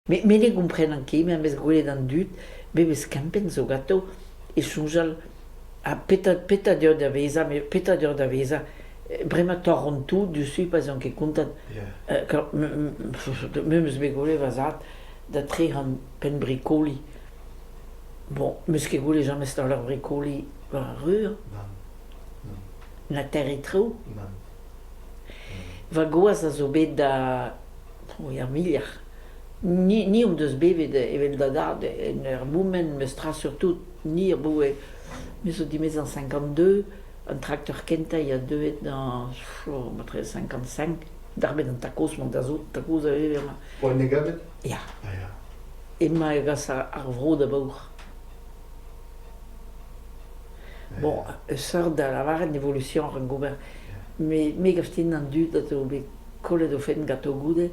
Me ne gomprenan ket, me am eus gwelet an dud, memes kempenn zo ganto, é soñjal ha petra petra deoc'h da vezañ, met petra deoc'h da vezañ, bremañ torront tout diouzhtu pa'z on ket kontant. Memes bet gwelet va zad da trec'han penn brikoli. Bon, 'meus ket gwelet james taol ar brikoli war ar reur. Na terre traoù. Va gwaz a zo bet da... er muioc'h. Ni ni hon deus bevet evel da dad en ur moument meus tra surtout ni aboue... me zo dimezañ cinquante-deux. An trakteur kentañ a oa deuet dañ matre cinquante-cinq. Darbet an takoz-mañ da zout, takoz a vever mañ. Poan e gabet? Ya. Ya. Emañ e gas ar vro da baour. Bon, sort da lavaret evolution ar gober, me me gav din an dud a zo bet kollet o fenn ganto goude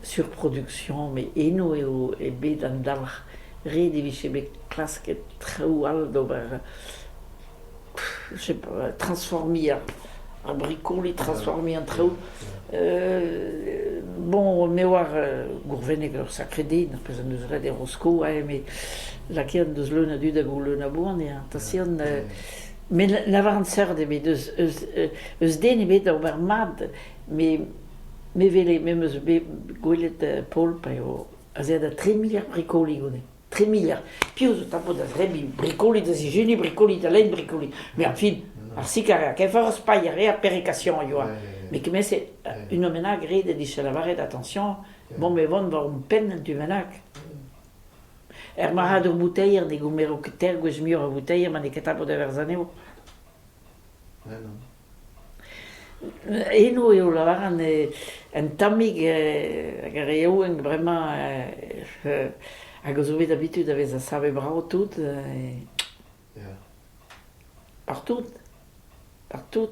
sur production met eno eo eo bet an dalc'h. Ret e vije bet klasket traoù all d'ober je sais pas, transformer un, bricole, transformer en traoù. Euh, bon, ne war euh, gourvennek ur sakredin, pezh en deus ret e Rosko, eh, me lakaet deus leun a dud hag o leun a boan, eh, atasian... Euh, met lavaran seurt ebet eus, eus, eus den ebet da ober mat, me me vele me meus bet gwelet Paul pa eo a zea da 3 miliard bricoli gone. Tri miliard. Piv zo 'ta bod da zebriñ brikolit da sizhuniñ, brikolit da lenn, brikolit. Mais en fin, ar sikaria, kefer spaiñ a reer perrikation a yoa. Mais kement-se, une menag ret e dije lavaret attention, bon mais vont war hon penn en tu bennak. Er marc'hadour bouteier ne goumero ket tegwezh muioc'h a vouteier ma n'eo ket tapet e-berzh anezho. Eno eo lavaran un tammig hag ar re yaouank bremañ hag a zo bet habitud da vezañ savet brav tout partout, partout.